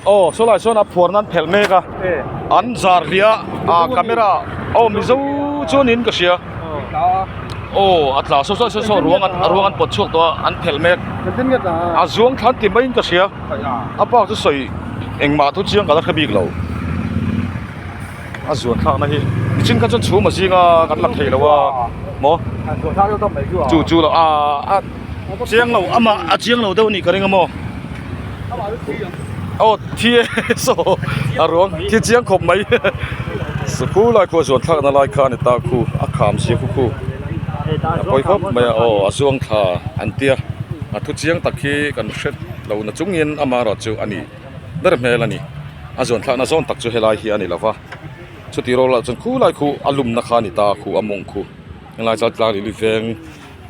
aw sawlai sawn a phuar nan phelh mek a an zar hliah a ah camera aw mizo chuan in ka hria aw a tla saw saw saw ruang a ruang an pawt chhuak tawh a an phelh mek a zuang thla an ti mai in ka hria a bak chu sawi engmah thu chiang ka la hre bik lo. A zuan thlakna hi mihring kha chuan chhum a zing a kan la thei lo a maw chu chu lo a chiang lo ama a chiang lo deuh a nih ka ring a maw aw thi e saw a ruang khi chiang khawp mai saku lai khua zuan thlakna lai kha a ni ta khu a kham zia khu khu a pawi khawp mai a aw a zuang thla an tia a thu chiang tak hi kan hre lo nachungin ama erawh chu a ni. ber hmel a ni a zawn thlahna zawn tak chu helai hi a ni lova chuti rawlah chuan khu lai khu a lum na kha a ni ta khu a mawng khu helai chuan tlâng lili veng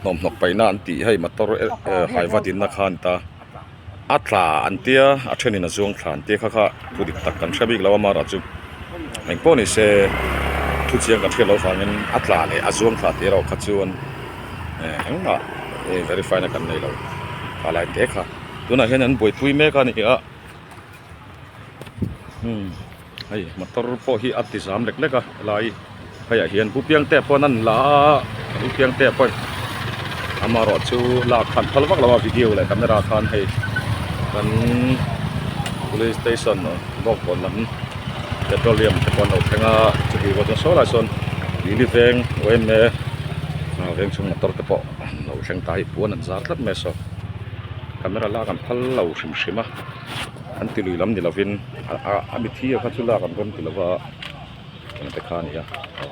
hnawmhnaw paihna an tih hei motor haiva dinna kha a ni ta a tla an tia a thenin a zuang thla an tia kha kha thu dik tak kan hre bik lo a mara chu eng pawh nise thu chiang kan hriat loh avangin a tla leh a zuang thla tih erawh kha chuan engmah verify na kan nei lo a laia te kha. tunah hian an buaipui mek a nih a hmm hei motor pawh hi a tizam lek lek a helai hei ah hian pu Piangte pawh an han la a pu Piangte pawh amarawhchu chu lak khan phal vak lo a video leh camera khan hei kan police station bawkbawn lam petroleum te pawh an lo thleng a chutih pawh chuan saw lai sawn Lili veng OMA vengchhung motor te pawh an lo thleng ta a i puan an zar tlat mai a saw. camera lak an phal lo hrim hrim a an ti lui lam ni lovin a mithiam kha chu lak an rawn ti lova engte kha a nia aw.